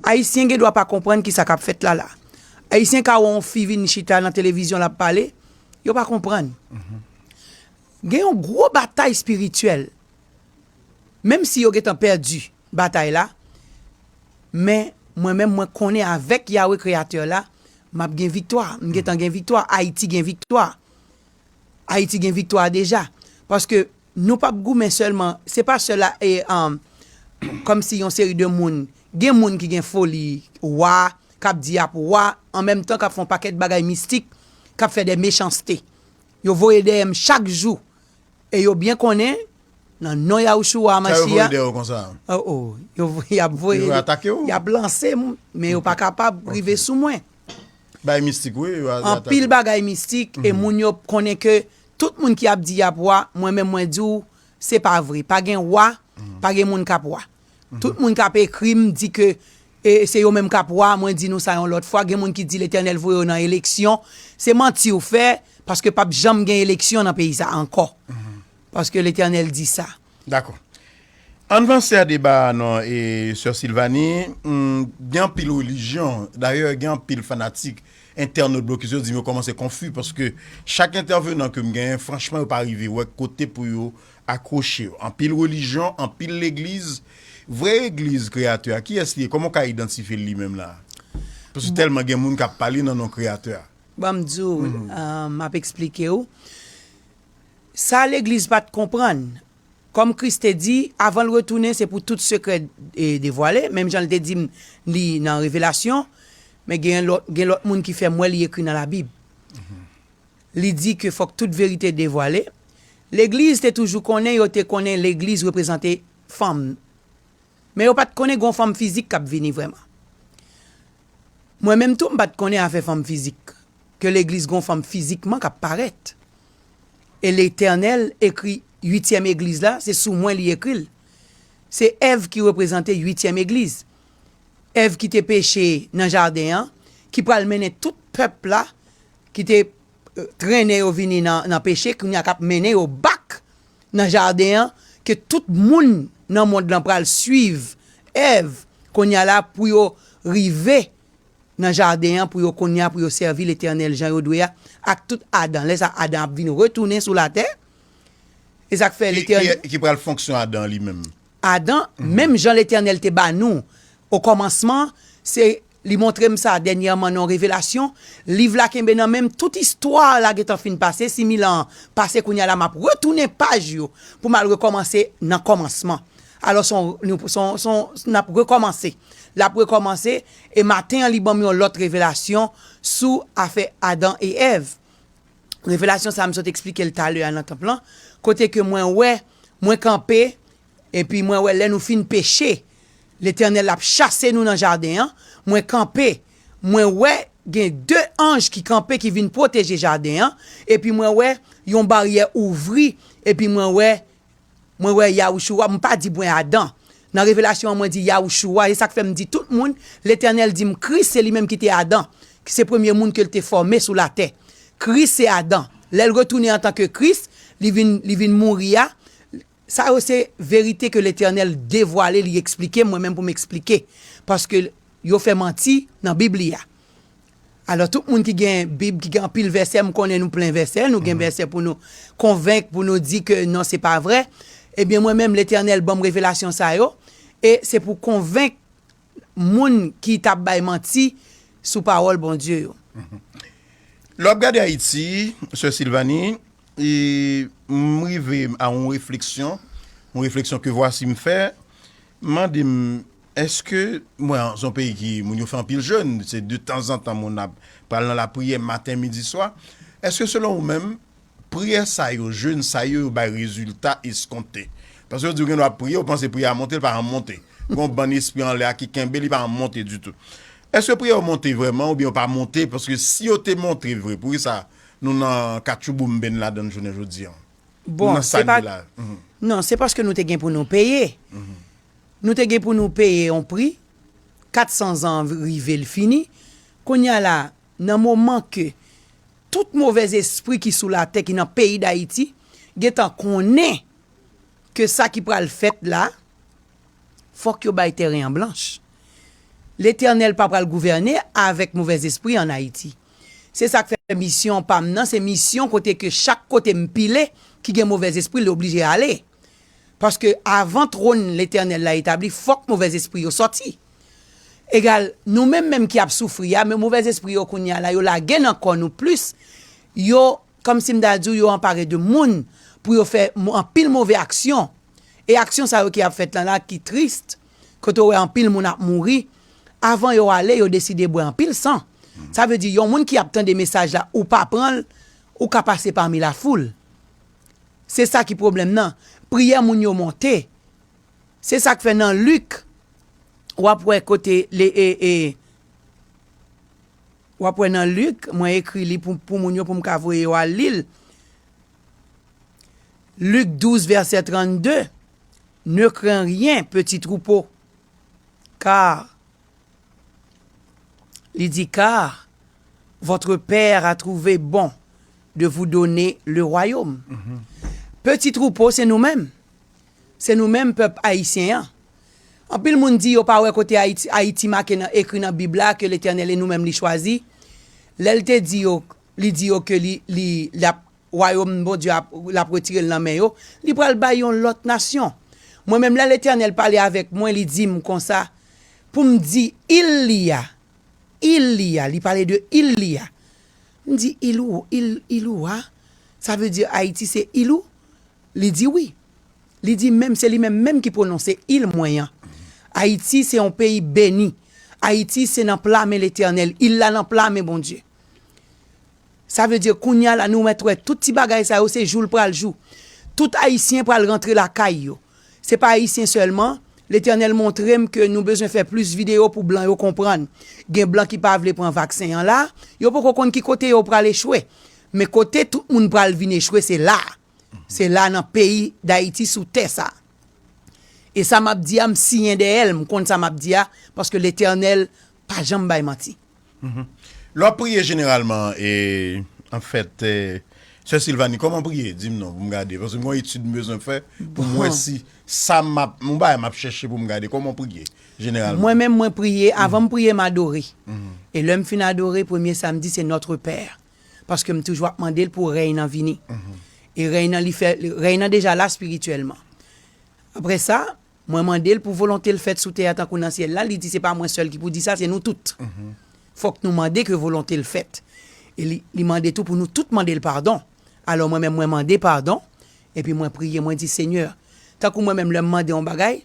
Ayisyen gen dwa pa konprann ki sa k ap fèt la la. Ayisyen ka wè yon fi vin chita nan televizyon l ap pale, yo pa konprann. Gen yon gwo batay espirityèl, menm si yo gen tan pèdi batay la, men mwen menm mwen konnen avèk Yawe Kreyatè la, m ap gen viktwa, m gen tan gen viktwa, Ayiti gen viktwa. Ayiti gen viktwa deja. Paske Nou pap goumen sèlman, se pa sèl a e um kòmsi yon seri de moun, gen moun ki gen foli wa, kap di yap wa an menm tan kap fè yon pakèt bagay mistik, kap fè dè mechanste. Yo voye dèyè m chak jou e yo byen konnen nan non Yahushua Hamashiach. Sa yo voye dèyè w konsa an? Oh oh, yo voye, yap voye. Yo vle atake w? Yap lanse m, men yo pa kapab rive sou mwen. Bagay mistik wi yo atake. Anpil bagay mistik e moun yo konnen ke Tout moun ki ap di yap wa mwen menm mwen diw se pa vre pa gen wa pa gen moun kap wa tout moun kap ekrim di ke se yo menm kap wa mwen di nou sa yon lòt fwa gen moun ki di letènèl voye yo nan eleksyon se manti ou fè paske pap janm gen eleksyon nan peyi sa ankò paske letènèl di sa. Dakò. Ann vanse a deba a non e Sè Sylvanie, gen anpil relijyon, dayè gen anpil fanatik entènot blokis yo di m yo kòmanse konfu paske chak entèvenan ke m genyen franchman yo pa rive wè kote pou yo akwoche yo. Anpil relijyon, anpil legliz, vrè egliz kreyatè a kiyès li ye? Kòman w ka idantifye l li menm la a? Paske tèlman gen moun k ap pale nan non kreyatè a. Bon m di w, m ap eksplike w. Sa legliz pat konprann. Kòm Kris te di, avan l retounen se pou tout sekrè devwale, menm jan l te di m li nan revelasyon, men gen lòt moun ki fè m wè li ekri nan labib. Li di ke fòk tout verite devwale. Legliz te toujou konnen, yo te konnen legliz reprezante fanm. Men yo pat konnen gon fanm fizik k ap vini vrèman. Mwen menm tou m pat konnen afè fanm fizik. ke legliz gon fanm fizikman kap parèt e letènèl ekri uityèm egliz la se sou mwen li ekril se èv ki reprezante uityèm egliz èv kite peche nan jaden an ki pral mennen tout pèp la kite trennen yo vini nan peche kounya kap mennen yo bak nan jaden an ke tout moun nan mond lan pral swiv èv kounya la pou yo rive nan jaden an pou yo kounye a pou yo sèvi Letènèl jan yo dwe a ak tout Adan. Lè sa Adan ap vin retounen sou latè. E sa k fè Letènèl. Ki pral fonksyon Adan li menm? Adan, menm jan Letènèl te ba nou okòmansman, se, li montre m sa dènyèman nan yon revelasyon, liv la kenbe nan men m, tout istwa la gen tan fin pase, similan an pase kounye a la m ap retounen paj yo pou m al rekòmanse nan kòmansman. Alò s on, s on, n ap rekòmanse. L ap rekòmanse. E maten an li banm yon lòt revelasyon sou afè Adan e Èv. Revelasyon sa m sot eksplike l talè a nan tanp lan, kote ke mwen wè, mwen kanpe, epi mwen wè lè nou fin peche, Letènèl ap chase nou nan jaden an, mwen kanpe, mwen wè gen de anj ki kanpe ki vin pwoteje jaden an, epi mwen wè yon baryè ouvri, epi mwen wè Mwen wè Yahushua, m pa di bwen Adan. Nan revelasyon an mwen di Yahushua, se sa k fè m di tout moun, Letènèl di m Kris se li menm ki te Adan, ki se premye moun ke l te fòme sou latè. Kris se Adan. Lè l retounen antanke Kris, li vin, li vin mouri a, sa yo se verite ke Letènèl devwale, li eksplike m, mwen menm pou m eksplike, paske yo fè manti nan Bib li a. Alò tout moun ki gen bib ki gen anpil vèsè m konnen nou plen vèsè nou gen vèsè pou nou konvenk pou nou di ke non se pa vrè ebyen mwen menm letènèl banm revelasyon sa yo e se pou konvenk moun ki t ap bay manti sou pawòl Bondye yo. Lè w ap gade Ayiti sè Sylvanie e m rive a yon refleksyon yon refleksyon ke vwasi m fè m mande m Eske mwen an son peyi ki moun yo fè anpil jèn, se de tanzantan moun ap pral nan lapriyè maten, midi, swa. Eske selon ou menm, priyè sa yo, jèn sa yo, yo bay rezilta eskonte? Paske yo di ou gendwa ap priye, ou panse priyè a monte, li pa janm monte. Gen yon bann espri anlè a ki kenbe li pa janm monte ditou. Eske priyè yo monte vrèman oubyen yo pa monte? Paske si yo te monte vre, poukisa nou nan katchouboumben ladann jounen jodi an? Nou nan sa n ye la? Non, se paske nou te gen pou nou peye. Nou te gen pou nou peye yon pri, 400 zan an rive l fini, kounye a la a, nan moman ke tout movèzespri ki sou latè, ki nan peyi Dayiti, gen tan konnen ke sa ki pral fèt la, fòk yo bay tèren an blanch. Letènèl pa pral gouvène avèk movèzespri an Ayiti. Se sa k fè misyon pa m nan, se misyon kote ke chak kote m pile, ki gen movèzespri, li oblije ale. Paske avan twòn Letènèl la etabli, fòk movèzespri yo sòti. Egal, nou menm menm ki ap soufri a, men movèzespri yo kounye a la, yo lage nan kò nou plis, yo, kòmsi m ta di w, yo anpare de moun pou yo fè anpil move aksyon. E aksyon sa yo ki ap fèt la la, ki tris, kote ou wè anpil moun ap mouri, avan yo ale, yo deside bwè anpil san. Sa vle di, yon moun ki ap tande mesaj la, ou pa pran l, ou ka pase pami lafoul. Se sa ki pwoblèm nan. Priyè moun yo monte. Se sa k fè nan Lik, w ap wè kote le e e. W ap wè nan Lik, mwen ekri li pou pou moun yo pou m ka voye yo al li l. Lik 12 vèsè 32, Ne crains rien, petit troupeau, car. Li di, Kar votre Père a trouvé bon de vous donner le Royaume. Peti twoupo se nou menm. Se nou menm pèp Ayisyen an. Anpil moun di yo pa wè kote Ayiti, Ayiti make nan, ekri nan Bib la ke Letènèl e nou menm li chwazi. Lè li te di yo, li di yo ke li, li, l ap. Wayòm Bondye a, l ap retire l nan men yo, li pral bay yon lòt nasyon. Mwen menm, lè Letènèl pale avèk mwen, li di m konsa, pou m di il li a, il li a, li pale de il li a. M di, il ou? Il, il ou a? Sa vle di Ayiti se il ou? Li di wi. Li di menm, se li menm menm ki pwononse il mwen an. Ayiti se yon peyi beni. Ayiti se nan pla men Letènèl. Il la nan pla men Bondye. Sa vle di kounya la nou mèt wè tout ti bagay sa yo se jou l pral jou. Tout Ayisyen pral rantre lakay yo. Se pa Ayisyen sèlman, Letènèl montre m ke nou bezwen fè plis videyo pou blan yo konprann. Gen blan ki pa vle pran vaksen an la, yo poko konn ki kote yo pral echwe. Men kote tout moun pral vin echwe se la a. Se la a nan peyi Dayiti sou tè sa a. E sa m ap di a m siyen dèyè l, m konn sa m ap di a paske Letènèl pa janm bay manti. Lè wap priye jeneralman e an fèt sè Sylvanie kòman priye dim non poum gade paske mwen etid m bezwen fè poum wè si sa map yon bagay map chèche poum gade kòman ou priye jeneralman. Mwen menm mwen priye avan m priye m adore e lèm fin adore premye sam di se notre père paske m toujou ap mandel pou rèy nan vini e rèy nan li fè rèy nan deja la spirityèlman aprè sa Mwen mande l pou volonte l fèt sou tè a tankou nan syèl la, li di se pa mwen sèl ki pou di sa, se nou tout. Fòk nou mande ke volonte l fèt. E li, li mande tou pou nou tout mande l padon. Alò mwen menm mwen mande padon, epi mwen priye, mwen di, Senyè, tankou mwen menm lè m mande yon bagay,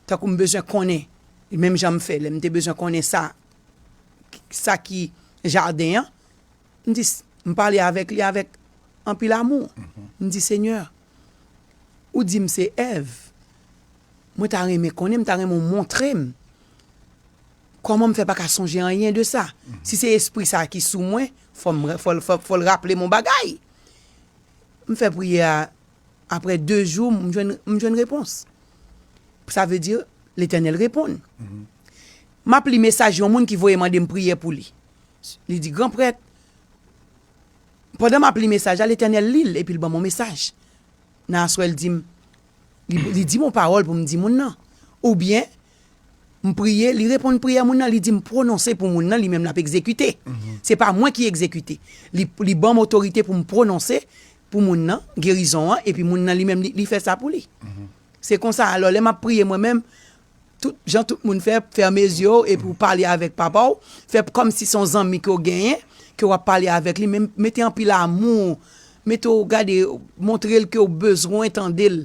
tankou m bezwen konnen, menm jan m fè lè m te bezwen konnen sa, sa ki jaden an, M di, m pale avèk li avèk anpil amou. M di, Senyè, ou di m se Èv. Mwen ta renmen konnen, m ta renmen ou montre m kòman m fè pa ka sonje anyen de sa. Si se espri sa a ki sou mwen, fò m, fò l, fò l raple m yon bagay. M fè priyè a, aprè de jou, m jwenn, m jwenn repons. Sa vle di, Letènèl reponn. M ap li mesaj yon moun ki voye mande m priye pou li. Li di, Gran prèt, pandan m ap li mesaj la, Letènèl li l epi l ban m yon mesaj. Nan aswè l di m, li di m yon pawòl pou m di moun nan. Oubyen, m priye, li reponn priyè moun nan, li di m pwononse pou moun nan, li menm l ap egzekite. Se pa mwen ki egzekite. Li ban m otorite pou m pwononse pou moun nan gerizon an, epi moun nan li menm li fè sa pou li. Se konsa, alò, lè m ap priye mwen menm, Tout jan tout moun fè, fèmen zye w epi w pale avèk papa w, fè kòm si se yon zanmi ke w genyen, ke w ap pale avèk li, men mete anpil amou, mete w gade, montre l ke w bezwen tande l,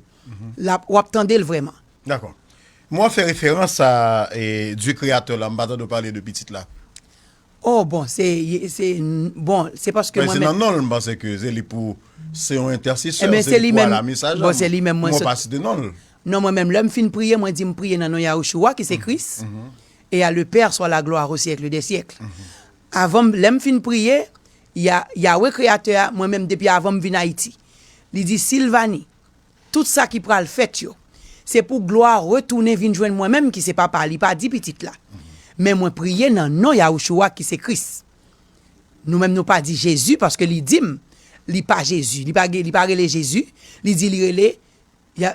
w ap tande l vrèman. Dakò. Mo w ap fè referans a, Dye kreyatè w la, m pa tande w pale de pitit la. Oh bon se se bon se paske mwen menm. Men se nan nonl m panse ke se li pou se yon entèsesè se li pou al a mesaj la m wè w pa site nonl. Non mwen menm lèm fin priye mwen di m priye nan non Yahushua ki se Kris e a le père swa la glwa o syèkle dè syèkle avan m lèm fin priye ya Yahweh kreyatè a mwen menm depi avan m vin Ayiti li di Sylvanie Tout sa ki pral fèt yo, se pou glwa retounen vin jwenn mwen menm ki se Papa a, li pa di Pitit la. Men mwen priye nan non Yahushua ki se Kris. Nou menm nou pa di Jezi paske li di m li pa Jezi, li pa gen, li pa rele Jezi, li di li rele,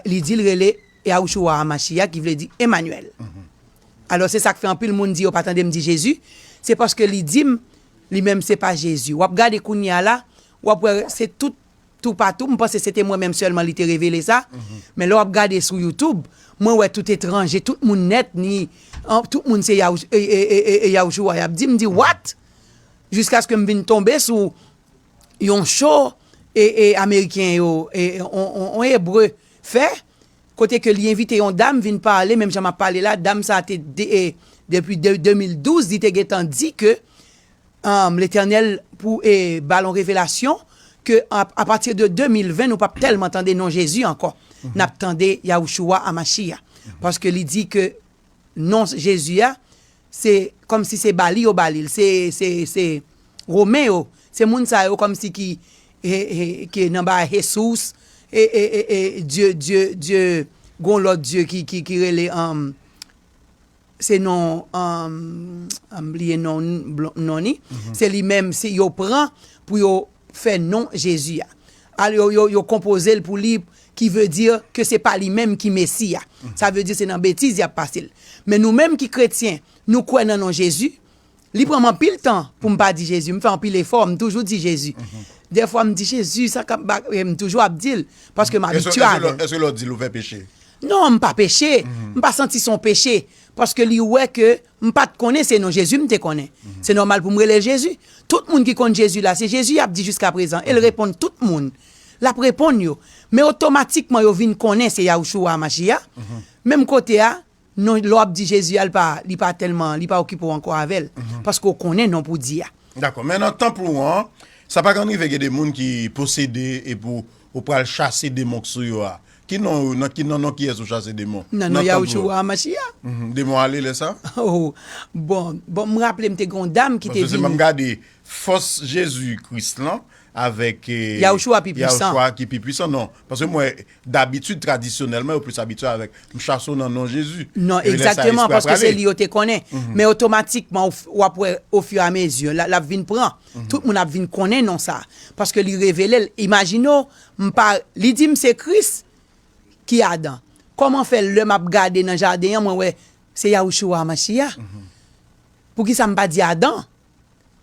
li di l rele Yahushua HaMashiach ki vle di Emmanuel. Alò se sa k fè anpil moun di yo pa tande m di Jezi, se paske li di m li menm se pa Jezi. W ap gade kounye a la, w ap wè se tout. toupatou, m panse se te mwen menm sèlman li te revele sa, men lè w ap gade sou youtube, mwen wè tout etranje, tout moun nèt ni, tout moun se Yahushua y ap di, m di what? Jiskaske m vin tonbe sou yon show ameriken yo, yon ebre fè, kote ke li envite yon dam vin pale, menm jan m ap pale la, dam sa te depi 2012 li te gentan di ke, Humm letènèl pou e balon revelasyon ke a pati de 2020 nou pap tèlman tande non jezi ankò nap tande Yahushua Amashia paske li di ke non jezi a se kòmsi se bali yo balil se se se romen yo se moun sa yo kòmsi ki e e ki nan ba hesus e e e e dye dye dye gon lòt dye ki ki ki rele humm. Se non m bliye non non li se li menm yo pran pou yo fè non Jezi a yo konpoze l pou li ki ve di ke se pa li menm ki Mesi a sa ve di se nan betiz y ap pase l men nou menm ki kretyen nou kwè nan non Jezi Li pranm anpil tan poum pa di Jezi m fè anpil efò m toujou di Jezi dèfwa m di Jezi sa kap ba m toujou ap dil paske m abitye avèl. Eske lèw dil ou fè peche? Non m pa peche m pa santi son peche paske li wè ke m pat konnen se non Jezi m te konnen se nòmal poum relel Jezi tout moun ki konn Jezi la se Jezi yap di jiskaprezan el reponn tout moun lap reponn yo men otomatikman yo vin konnen se Yahushua Hamashiah menm kote a Non lè wap di Jezi a li pa li pa tèlman li pa okipe w ankò avè l paske w konnen non pou w di a. Dakò men nan tanp ou an sa pa konn rive gen de moun ki posede epi ou pral chase demon k sou yo a ki non ou nan ki nan non kiyès ou chase demon nan non Yahushua Hamachia demon ale lè sa oh bon bon m raple m te gen yon dam ki te vini paske se m ap gade fòs Jezi Kris lan avèk Yahushua ki pi pwisan non paske m wè dabitid tradisyonèlman yo plis abitye avèk m chaso nan non Jezi non egzakteman paske se li yo te konnen men otomatikman w ap wè ofiramezi l ap vin pran tout moun ap vin konnen non sa paske li revele l imajine w m pa li di m se Kris ki Adan kòman fè lè m ap gade nan jaden an mwen wè se Yahushua Mashiah poukisa m pa di Adan.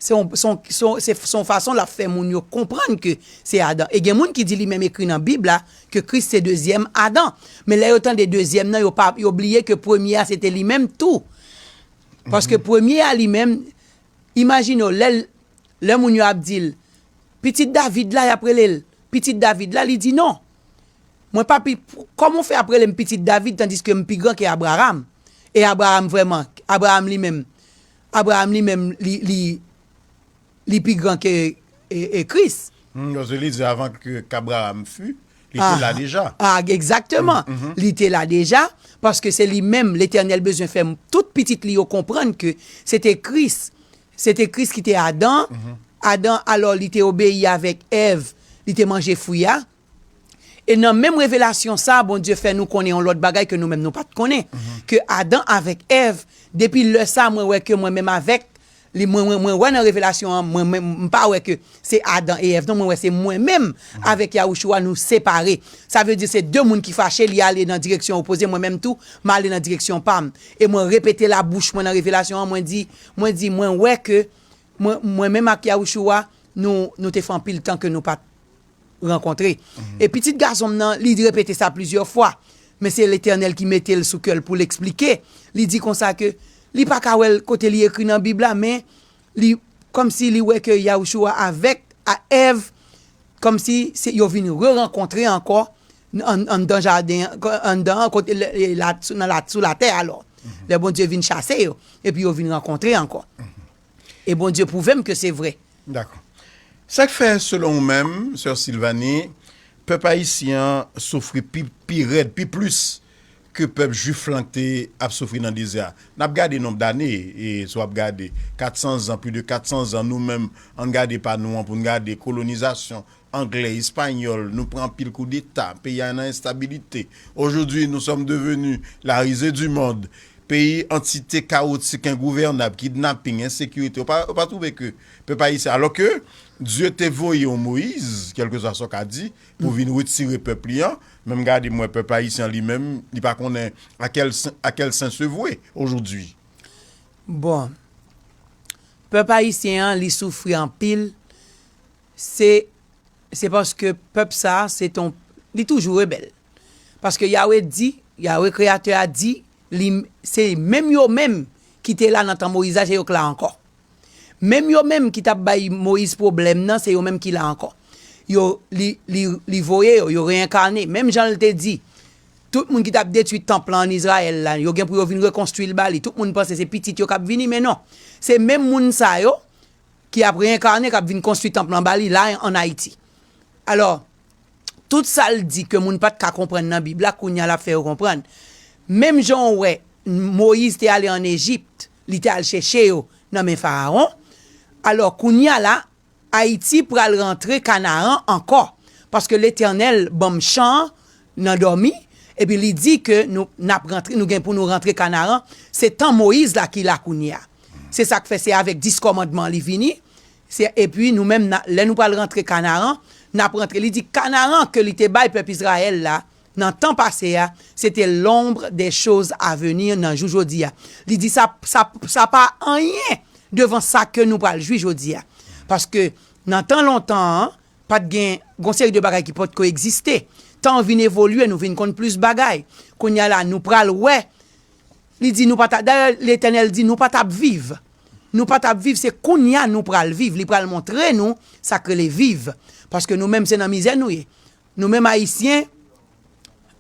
Se yon fason l ap fè moun yo konprann ke se Adan. E gen moun ki di li menm ekri nan Bib la ke Kris se dezyèm Adan. Men lè yo tande dezyèm nan, yo bliye ke premye a se te li menm tou. Paske premye a li menm, imajine w, lè moun yo ap di l, Pitit David la, y ap rele l Pitit David la, li di non. Mwen pa pi, kòman w fè ap rele m Pitit David tandiske m pi gran ke Abraram? E Abraram vrèman, Abraram li menm, Abraham li menm li li pi gran ke Kris. Humm paske li di avan ke Abraham fut, li te la deja. Ah exactement, li te la deja paske se li menm Letènèl bezwen fè tout pitit li yo konprann ke se te Kris, se te Kris ki te Adan, Adan alò li te obeyi avèk Èv, li te manje fwi a, E nan menm revelasyon sa a, Bondye fè nou konnen yon lòt bagay ke nou menm nou pa t konnen, ke Adan avèk Èv, depi lè sa a mwen wè ke mwen menm avèk, mwen wè nan revelasyon an, mwen menm, m pa wè ke se Adan e Èv non, mwen wè se mwen menm avèk Yawouchouwa nou separe. Sa vle di se de moun ki fache, li ale nan direksyon opoze, mwen menm tou, m ale nan direksyon pa m. E mwen repete la bouch mwen nan revelasyon an, mwen di, mwen di, mwen wè ke mwen menm ak Yawouchouwa, nou, nou te fè anpil tan ke nou pa t rankontre. E pitit gason m nan, li repete sa plizyè fwa, men se Letènèl ki mete l sou kè l pou l esplike, li di konsa ke li pa ka wè l kote li ekri nan Bib la, men li kòmsi li wè ke Yawouchoua avèk Èv, kòmsi se yo vin rerankontre ankò anndan jaden an, anndan an kote sou latè alò, lè Bondye vin chase yo, epi yo vin rankontre ankò. E Bondye pwouve m ke se vre. Dakò. Sa k fè selon ou menm, sè Sylvanie, pèp ayisyen an soufri pi pi rèd, pi plis ke pèp jwif lan te ap soufri nan dezè a? N ap gade nonb dane, e si w ap gade, 400 zan, pli de 400 zan, nou menm, an n gade pa nou an pou n gade, kolonizasyon, Anglè, Espagnol, nou pran anpil kou deta, peyi a nan enstabilite. Aujourd'hui, nous sommes devenus la risée du monde. Peyi antite kawotik, engouvènab, kidnapping, ensekirite. Ou pa, ou pa twouve ke pèp ayisyen, alò ke Dye te voye yon Moïse, kèlkeswa sa w ka di, pou vin retire pèp li an, men m gade m wè pèp ayisyen an li menm, li pa konnen a kèl, a kèl sen se vwe aujourd'hui. Bon, pèp ayisyen an li soufri anpil. Se Se paske pèp sa a se ton Li toujou rebèl Paske Yawe di Yawe Kreyatè a di li Se menm yo menm ki te la nan tan Moyiz la se yo k la ankò Menm yo menm ki t ap bay Moyiz pwoblèm nan se yo menm ki la ankò Yo Li Li Li voye yo Yo reyenkane Menm jan l te di Tout moun ki t ap detwi tanp lan ann Izrayèl la yo gen pou yo vin rekonstwi l ba li Tout moun panse se pitit yo k ap vini men non Se menm moun sa yo ki ap reenkarne, k ap vin konstwi tanp lan ba li la an Ayiti. Alò, tout sa l di ke moun pa t ka konprann nan Bib la, kounye a l ap fè yo konprann. Menm jan ou wè Moyiz te ale ann Ejipt, li te al chèche yo nan men Farawon, alò, kounye a la, Ayiti pral rantre Kanaran ankò, paske Letènèl ban m chan an, nan dòmi epi li di ke nou nap rantre nou gen pou nou rantre kanaran se tan moyiz la ki la kounyea se sak fè se avèk 10 kòmandman li vini se epi nou menm na lè nou pral rantre kanaran nap rantre li di kanaran ke li te bay pèp izrayèl la nan tan pase a se te lonbre dè choz a veni nan jou jodia li di sa sa sa pa anyen devan sa ke nou pral jwi jodia paske nan tan lontan an. Pat gen, gon seri de bagay ki pot ko egziste. Tan an vin evolye, nou vin konn plis bagay. Kounya la nou pral wè, li di nou pa ta, dayè Letènèl di nou pa tap viv. Nou pa tap viv, se kounya nou pral viv, li pral montre nou sak rele viv. Paske nou menm se nan mizè nou ye. Nou menm Ayisyen,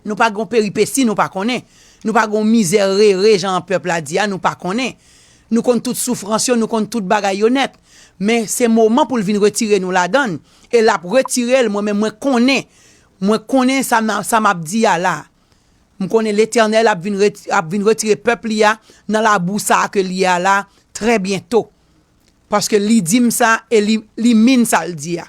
Nou pa gon peripesi nou pa konnen. Nou pa gon mizè rere jan pèp la di a nou pa konnen. Nou konn tout soufrans yo, nou konn tout bagay yo nèt. Men se moman pou l vin retire nou ladan l. E l ap retire l mwen menm mwen konnen. Mwen konnen sa m ap di a la. M konnen Letènèl ap vin retire pèp li a nan labou sa a ke l ye a la trè byento. Paske li di m sa e li min sa l di a.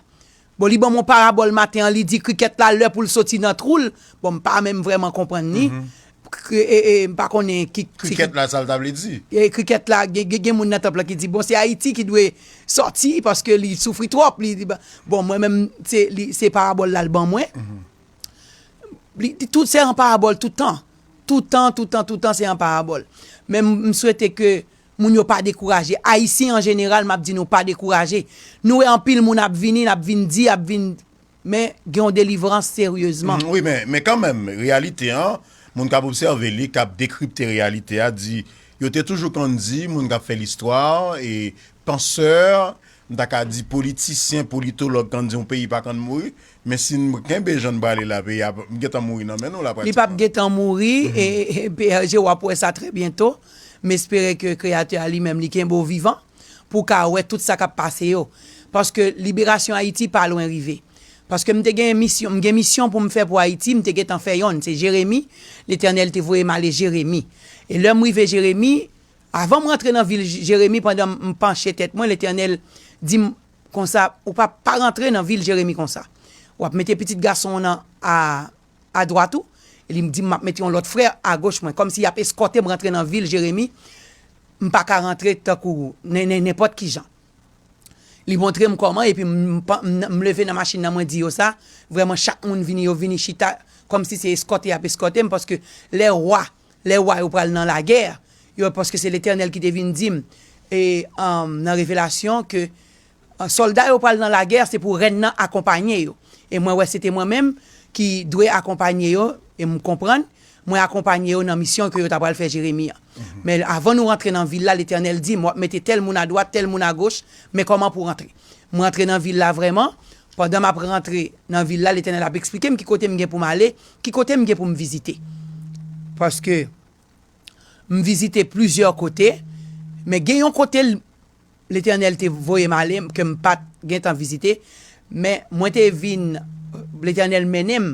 Bon li ban m yon parabòl maten an li di krikèt la lè pou l soti nan twou l, bon m pa menm vrèman konprann ni, m pa konnen ki. Krikèt la sa l ta vle di. Krikèt la gen moun nan tanp lan ki di bon se Ayiti ki dwe sòti paske li soufri twòp, bon mwen menm se parabòl la l ban mwen. Li di tout se an parabòl toutan, toutan, toutan, toutan se an parabòl. Men m swete ke Moun yo pa dekouraje. Ayisyen an jeneral m ap di nou pa dekouraje. Nou wè anpil moun ap vini, n ap vin di, ap vin. Men, gen yon delivrans seryezman. Wi, men, men kanmenm, reyalite an, moun k ap obsève li, k ap dekripte reyalite a di, yo te toujou konn di, moun k ap fè listwa, e pansè, m ta ka di politisyen, politològ konn di yon peyi pa konn mouri, Men si n kenbe jan n prale la peyi a ap gentan mouri nan men nou la pratikman. Li pap gentan mouri PRG w ap wè sa trè byento. M espere ke Kreyatè a li menm li kenbe w vivan pou w ka wè tout sa k ap pase yo. Paske liberasyon Ayiti pa lwen rive. Paske m te gen misyon, m gen misyon pou m fè pou Ayiti, m te gentan fè yonn, se Jeremi, Letènèl te voye m ale Jeremi. E lè m rive Jeremi, avan m rantre nan vil Jeremi pandan m panche tèt mwen Letènèl di m Konsa ou pa pa rantre nan vil Jeremi konsa. W ap mete pitit gason w nan a adwat ou, e li di m m ap mete yon lòt frè agoch mwen. Kòmsi y ap eskòte m rantre nan vil Jeremi, m pa ka rantre tankou nenpòt ki jan. Li montre m kòman epi m leve nan machin nan mwen di yo sa. Vrèman chak moun vini, yo vini chita kòmsi se eskòte y ap eskòte m paske lè wa Lè wa yo pral nan lagè, yo, paske se Letènèl ki te vin di m e nan revelasyon ke sòlda yo pral nan lagè, se pou rèn nan akonpanye yo. E mwen wè se te mwen menm ki dwe akonpanye yo, e m konprann, mwen akonpanye yo nan misyon ke yo ta pral fè Jeremi an. Men avan nou rantre nan vil la, Letènèl di m, w ap mete tèl moun adwat, tèl moun agoch, men kòman pou rantre. M rantre nan vil la vrèman, pandan m ap rantre nan vil la, Letènèl ap eksplike m ki kote m gen pou m ale, Ki kote m gen pou m vizite? Paske m vizite plizyè kote, men gen yon kote Letènèl te voye m ale ke m pa t gen tan vizite, men mwen te vin, Letènèl mennen m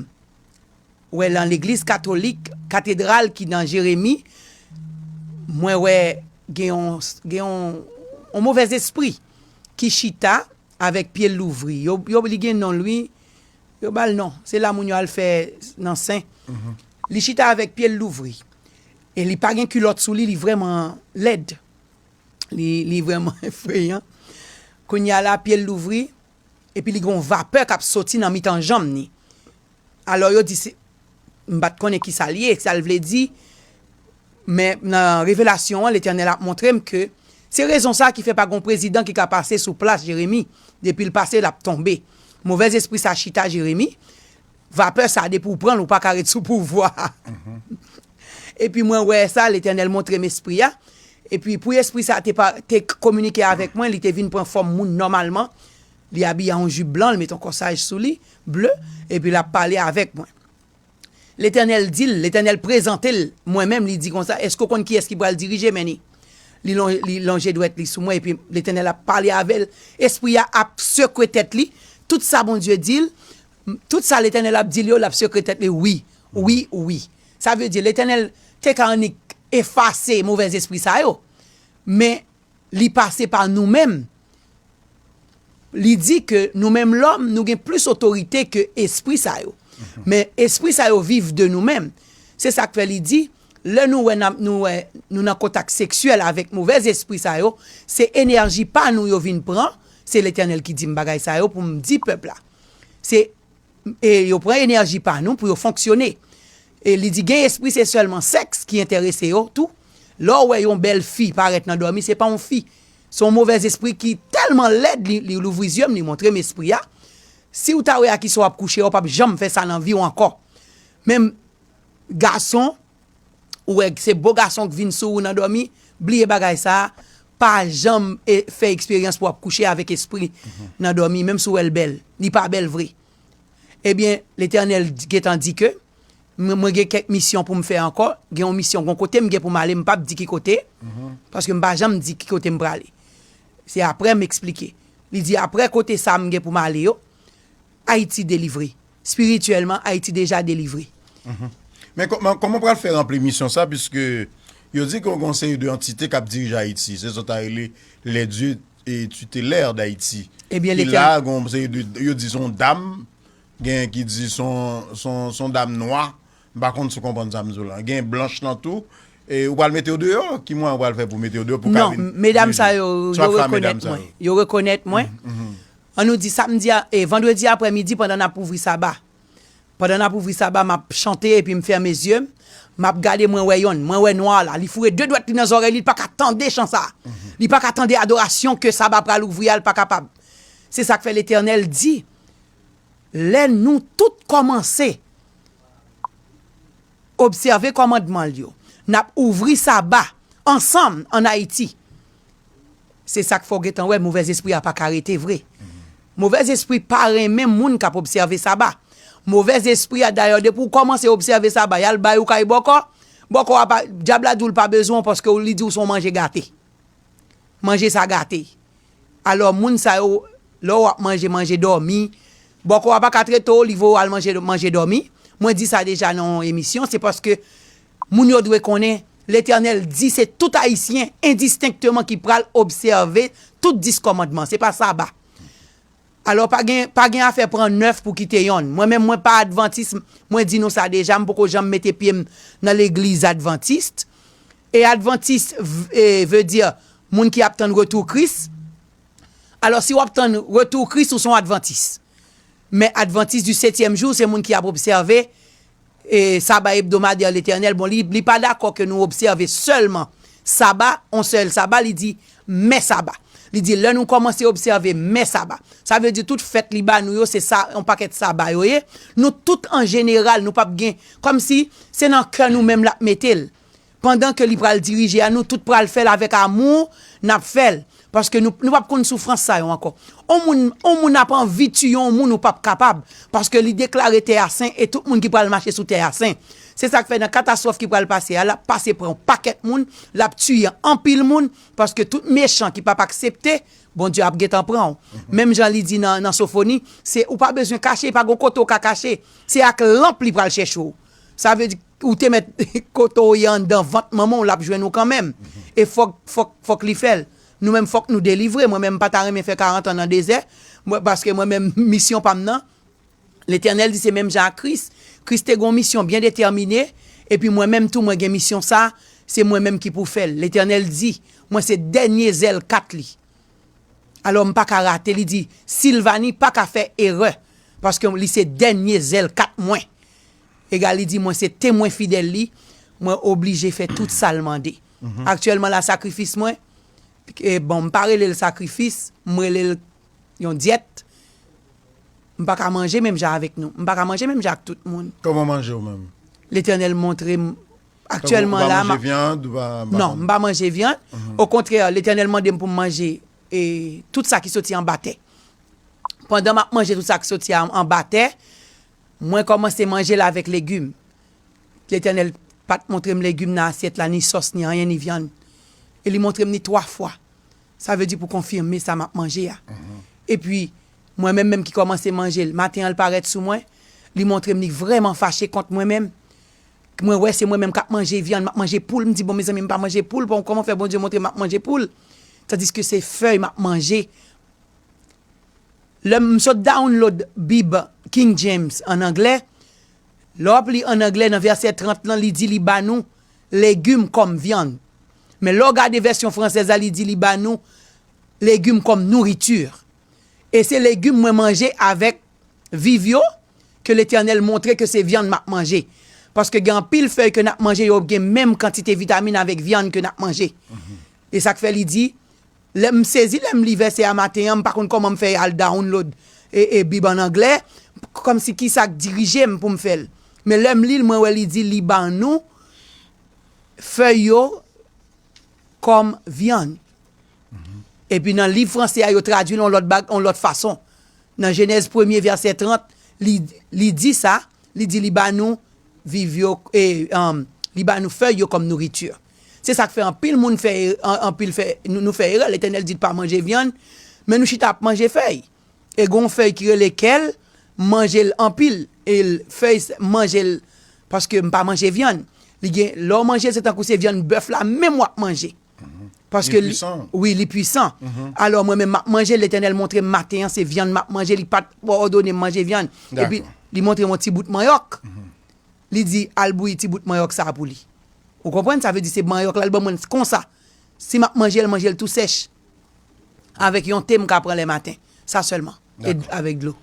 wè lan legliz katolik, katedral ki nan Jeremi, mwen wè gen yon, gen yon movèzespri ki chita avèk pye l louvri, yo, yo, li gen non l wi. Yo ba l non. Se la moun yo al fè nan sen. Li chita avèk pye l louvri. E li pa gen kilòt sou li, li vrèman lèd. Li, li vrèman efreyan. Kounye a la, pye l louvri, epi li gen yon vapè k ap soti nan mitan janm ni. Alò yo di se. M pa t konnen ki sa l ye, sa l vle di, men nan revelasyon an Letènèl ap montre m ke se rezon sa a ki fè pa gon prezidan ki ka pase sou plas Jeremi, depi l pase l ap tonbe. Movèzespri sa chita Jeremi, vapè sa depi w pran l ou pa ka ret sou pouvwa a. Epi mwen wè sa, Letènèl montre m espri a, epi pou espri sa te kominike avèk mwen, li te vin pran fòm moun nòmalman, Li abiye an yon jip blan, l met yon kòsaj sou li, ble, epi l ap pale avèk mwen. Letènèl di l, Letènèl prezante l mwen menm, li di konsa, Èske w konn kiyès ki pral dirije men li? Li lonje, li lonje dwèt li sou mwen, epi Letènèl ap pale avè l, Espri a ap sekwe tèt li, tout sa Bondye di l, tout sa Letènèl ap di l yo, l ap sekwe tèt li, wi, wi, wi. Sa vle di, Letènèl te ka annik efase movèzespri sa yo, men. Li pase pa nou menm. Li di ke nou menm lòm, nou gen plis otorite ke espri sa yo. Men, espri sa yo viv de nou menm. Se sa k fè li di, lè nou wè nou nan kontak seksyèl avèk movè zespri sa yo, se enèji pa nou yo vin pran, se Letènèl ki di m bagay sa yo pou m di pèp la. Se. E yo pran enèji pa nou pou yo fonksyone. E li di gen espri se sèlman sèks ki enterese yo tou. Lè w wè yon bèl fi parèt nan dòmi se pa yon fi. Se yon movèzespri ki tèlman lèd li louvri zye m li montre m espri a. Si w ta wè a kisa w ap kouche a w pap janm fè sa nan vi w ankò. Men gason. ou wè se bo gason k vin sou ou nan dòmi, bliye bagay sa, pa janm fè eksperyans pou w ap kouche avèk espri nan dòmi menm si w wè l bèl, li pa bèl vre. Ebyen Letènèl gentan di ke mwen gen kèk misyon pou m fè ankò, gen yon misyon, gen yon kote m gen pou m ale m pap di ki kote, paske m pa janm di ki kote m prale. Se aprè m esplike. Li di aprè kote sa m gen pou m ale yo, Ayiti delivre. Spirityèlman, Ayiti deja delivre. Men kòman w pral fè ranpli misyon sa piske yo di gen yon seri de antite k ap dirije Ayiti, se sa w ta rele les dieux tutellaires d'Haïti ki la, gen yon seri de, yo di se yon dam, gen ki di se yon dam nwa, M pa konn si w konprann sa m di w la. Gen blanch lan tou. E ou pral mete yo deyò? Ki mwayen ou pral fè pou mete yo deyò pou w ka vin jije? Non, medam sa yo, yo rekonèt mwen. Yo rekonèt mwen. An nou di samdi a, e vandredi aprè midi pandan n ap ouvri saba. Pandan n ap ouvri saba, m ap chante epi m fèmen zye m. M ap gade mwen wè yonn. Mwen wè nwa la. Li foure de dwèt li nan zòrèy li, li pa ka tande chan sa a. Li pa ka tande adorasyon ke saba pral ouvri a, li pa kapab. Se sa k fè Letènèl di, lè nou tout kòmanse obsève kòmandman l yo, n ap ouvri Saba ansanm ann Ayiti. Se sa k fè w gentan wè movèzespri a pa ka rete vre. Movèzespri pa renmen moun k ap obsève Saba. Movèzespri a dayè depi w kòmanse obsève Saba y al bay ou kay bòkò, bòkò a pa, dyab la di w l pa bezwen w paske li di w se yon manje gate. Manje sa gate. Alò moun sa yo lè w ap manje manje dòmi bòkò a pa ka trete w li voye w al manje manje dòmi mwen di sa deja nan yon emisyon se paske moun yo dwe konnen letènèl di se tout ayisyen endistenkteman ki pral obsève tout 10 kòmandman se pa saba Alò pa gen pa gen afè pran 9 pou kite yonn. Mwen menm mwen pa advantis mwen di nou sa deja m poko janm mete pye m nan legliz advantist e advantist ve di moun ki ap tann retou kris alò si wap tann retou kris ou son advantis men advantis di setyèm jou se moun ki ap obsève Saba hebdomadaire L'Eternel, bon, li pa dakò ke nou obsève sèlman Saba, on sèl Saba, li di, men Saba. Li di, lè nou kòmanse obsève men Saba. Sa vle di tout fèt li ba nou yo, se sa, on pakèt Saba yo ye. Nou tout an jeneral, nou pap gen, kòm si, se nan kè nou menm l'ap mete l. pandan ke li pral dirije a nou tout pral fèl avèk amour nap fèl paske nou nou pap konn soufrans sa yo ankò on moun on moun ap anvi tiye on moun ou pap kapab paske li deklare tè a sen e tout moun ki pral mache sou tè a sen se sak fè nan katastwòf ki pral pase a lap pase pran on pakèt moun lap tiye anpil moun paske tout mechan ki pap aksepte Bondye ap gentan pran ou menm jan li di nan nan sofoni se ou pa bezwen kache pa gon kote ou ka kache se ak lanp li pral chèche ou sa vle di. Ou te mèt kote w ye anndan vant manman w l ap jwenn ou kanmenm. E fòk, fòk, fòk li fè l. Nou menm fòk nou delivre. Mwen menm m pa ta renmen fè karantan nan dezè. Mwen, paske mwen menm misyon pa m nan, Letènèl di se menm jan ak Kris. Kris te gen yon misyon byen detèmine, epi mwen menm tou mwen gen misyon sa a, se mwen menm ki pou fè l. Letènèl di, mwen se dènye zèl kat li. Alò m pa ka rate. Li di, Silvani pa ka fè erè, paske li se dènye zèl kat mwen. Egalie di, Mwen se temwen fidèl li, mwen oblije fè tout sa l mande. Aktyèlman la sakrifis mwen, bon m pa rele l sakrifis, m rele l yon dyèt, m pa ka manje menm jan avèk nou, m pa ka manje menm jan ak tout moun. Kòman w manje ou menm? Letènèl montre m aktyèlman la. Tankou ou pa manje vyann, ou pa. Non, m pa manje vyann. Okontrè, Letènèl mande m pou m manje tout sa ki soti anba tè. Pandan m ap manje tout sa ki soti anba tè, Mwen kòmanse manje l avèk legim. Letènèl pa t montre m legim nan asyèt la, ni sòs, ni anyen, ni vyann. E li montre m li twa fwa, sa vle di pou konfime sa m ap manje a. Epi, mwen menm menm ki kòmanse manje l, maten an l parèt sou mwen, li montre m li vrèman fache kont mwen menm. Mwen wè se mwen menm k ap manje vyann, m ap manje poul, m di bon mezanmi m pa manje poul, bon kòman fè Bondye montre m m ap manje poul tandiske se fèy m ap manje. Lè m sot download Bib King James an anglè, lè w ap li an anglè nan vèsè 30 lan li di li ba nou legim kòm vyann. Men lè w gade vèsyon fransèz la li di li ba nou legim kòm nourriture. E se legim mwen manje avèk viv yo ke Letènèl montre ke se vyann m ap manje. Paske gen anpil fèy ke n ap manje yo gen menm kantite vitamin avèk vyann ke n ap manje. E sa k fè li di Lè m sezi lè m li vèsè a maten an m pa konn kòman m fè al download bib an anglè kòmsi kisa k dirije m pou m fè l men lè m li l mwen wè li di li ban nou fèy yo kòm vyann epi nan liv franse a yo tradui l yon lòt fason nan jenèz premye vèsè 30 li di sa li di li ban nou viv yo li ban nou fèy yo kòm nouriture. Se sak fè anpil moun fè anpil fè nou fè erè letènèl di pa manje vyann men nou chita ap manje fèy e gon fèy ki rele kèl manjel anpil el fèy manjel paske m pa manje vyann li gen lè w manjel se tankou se vyann bèf la menm wap manje paske li wi li pwisan alò mwen menm map manjel letènèl montre m maten an se vyann map manje li pat òdone m manje vyann epi li montre m yon ti bout manyòk li di al bouyi ti bout manyòk sa pou li. Ou konprann sa vle di se manyòk la li banm mwen konsa. Si map manjel manjel tou sèch. Avèk yon te m ka pran lè maten. Sa sèlman. E avèk dlo.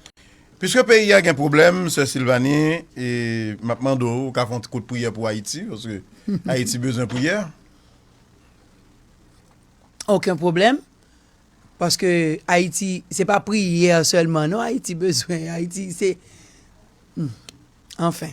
Piske peyi a gen pwoblèm sè Sylvanie e map mande w ou ka fè yon ti kout priyè pou Ayiti paske Ayiti bezwen priyè. Oken pwoblèm paske Ayiti se pa priyè sèlman non Ayiti bezwen Ayiti se anfen.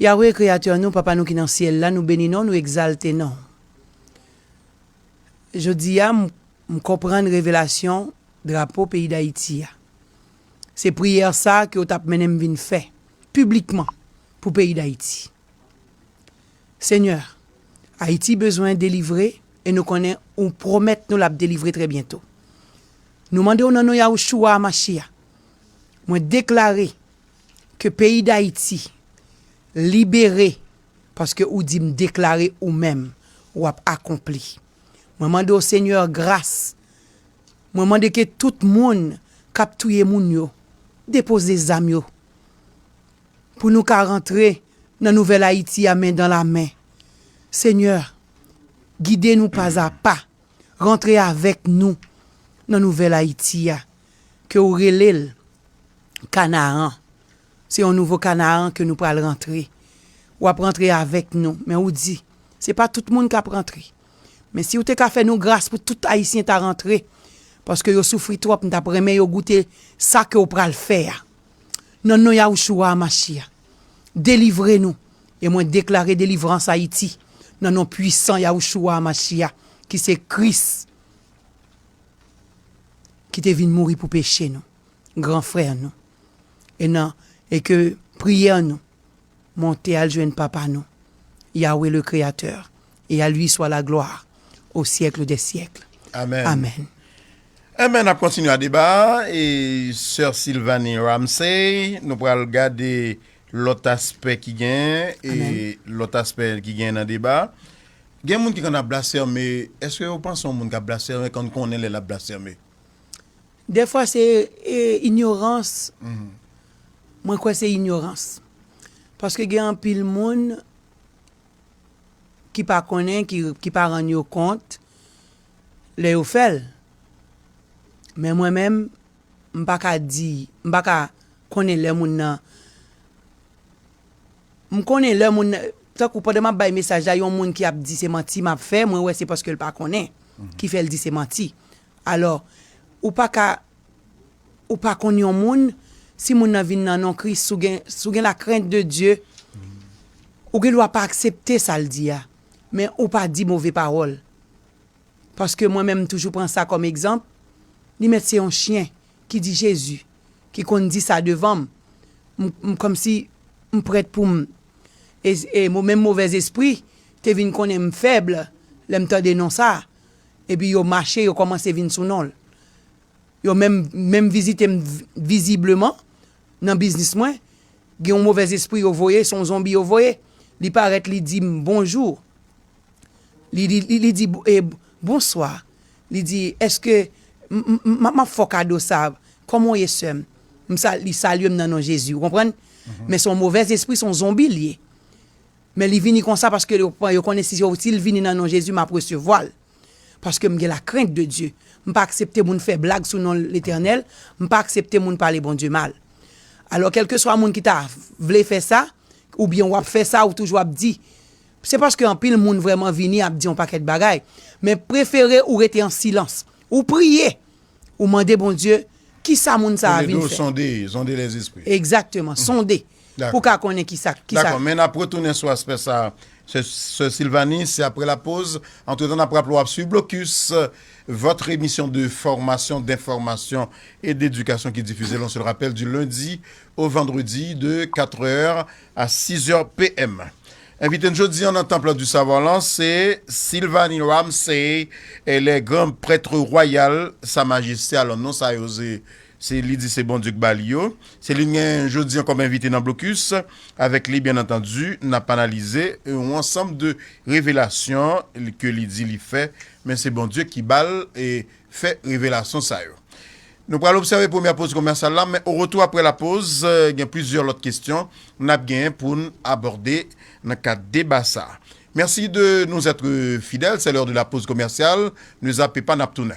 Yahweh, Kreyatè nou, Papa nou ki nan Syèl la, nou beni non, nou egzalte non. Jodi a, m konprann revelasyon drapo peyi Dayiti a. Se priyè sa ke w t ap mennen m vin fè, piblikman, pou peyi Dayiti. Senyè, Ayiti bezwen delivre, e nou konnen ou pwomèt nou l ap delivre trè byento. Nou mande w nan non Yahushua HaMashiach, mwen deklare, Ke peyi dayiti libere paske ou dim deklare ou menm wap akonpli mwen mande w senyè gras mwen mande ke tout moun kap touye moun yo depoze zam yo pou nou ka rantre nan nouvèl ayiti a men dan la men senyè gide nou pazapa rantre avèk nou nan nouvèl ayiti a ke ou rele l Kanaan, se yon nouvo Kanaan ke nou pral rantre, w ap rantre avèk nou, men ou di, se pa tout moun k ap rantre, men si ou te ka fè nou gras pou tout Ayisyen ta rantre, paske yo soufri twòp, m t ap renmen yo goute sa ke w pral fè a. Nan non Yahoushua Hamashiah, delivre nou, e mwen deklare delivrans Ayiti, nan non pwisan Yahoushua Hamashiah, ki se Kris. ki te vin mouri pou peche nou, gran frè nou, e nan e ke priyè nou monte al jwenn Papa nou, Yahweh le Créateur, et à lui soit la gloire au siècle des siècles. Amen. Amen. Amen, nap kontinye a deba a, e sè Sylvanie Ramsay, nou pral gade lòt aspè ki genyen, e lòt aspè ki genyen nan deba a. Gen moun ki konn ap blasfème, èske yo panse yon moun kap blasfème konn konnen lè lap blasfème? Dèfwa se inyorans, mwen kwè se inyorans. Paske gen anpil moun ki pa konnen, ki pa rann yo kont lè yo fè l. Men mwen menm, m pa ka di, m pa ka konnen lè moun nan. M konnen lè moun nan, tankou pandan m ap bay mesaj la, yon moun ki ap di se manti m ap fè, mwen wè se paske l pa konnen ki fè l di se manti. Alò, ou pa ka, ou pa konn yon moun, si moun nan vin nan non Kris, si w gen, si w gen la krent de Dye, ou gen dwa pa aksepte sa l di a, men ou pa di move pawòl. Paske mwen menm m toujou pran sa kòm egzanp, li mèt se yon chyen ki di Jezi ki konn di sa devan m, m kòmsi m prèt pou m e menm movèz espri te vin konnen m fèb lè m tande non sa a epi yo mache yo kòmanse vin sou non l yo menm menm vizite m vizibleman nan biznis mwen gen yon movèz espri yo voye se yon zonbi yo voye li parèt li di m bonjou. Li di, Bonswa. Li di, Èske m ap fè w kado sa a? Kòman w ye, sè m? Li salye m nan non Jezi. Ou konprann? Men se yon movèzespri, se yon zonbi l ye. Men li vini konsa paske yo konnen si l vini nan non Jezi, m ap resevwa l. Paske m gen lakrent de Dye. M pa aksepte moun fè blag sou non Letènèl. M pa aksepte moun pale Bondye mal. Alò, kèlkeswa moun ki ta vle fè sa, oubyen w ap fè sa, ou toujou ap di. Se paske anpil moun vrèman vini ap di yon pakèt bagay, men prefere ou rete an silans, ou priye, ou mande Bondye kisa moun sa a vin fè. Sonde, zonde lèzespri. Egzakteman, sonde pou w ka konnen kisa. Dakò, men nap retounen sou aspè sa a, sè Silvanie, se aprè lapoz. Antretan nap raple w ap swiv Blocus, votre emission de formation, d'information et d'éducation ki difize l, on se le rappelle, du lundi au vendredi de 4 heures A 6 è PM. Envite n jodi an nan Temple du Savoir lan se Sylvanie Ramsay, elle est Grand Prêtre Royal Sa Majeste, alò non sa yo se se li di se Bondye k ba li yo. Se li n gen jodi an kòm envite nan Blocus. Avèk li byen antandu n ap analize yon ansanm de revelasyon ke li di li fè, men se Bondye ki ba l fè revelasyon sa yo. Nou pral obsève premyè poz komèsyal la, men oretou aprè lapoz, gen plizyè lòt kesyon n ap genyen pou n abòde nan kad deba sa a. Mèsi de nous être fidèles, c'est l'heure de la pause commerciale, ne zape pa n ap tounen.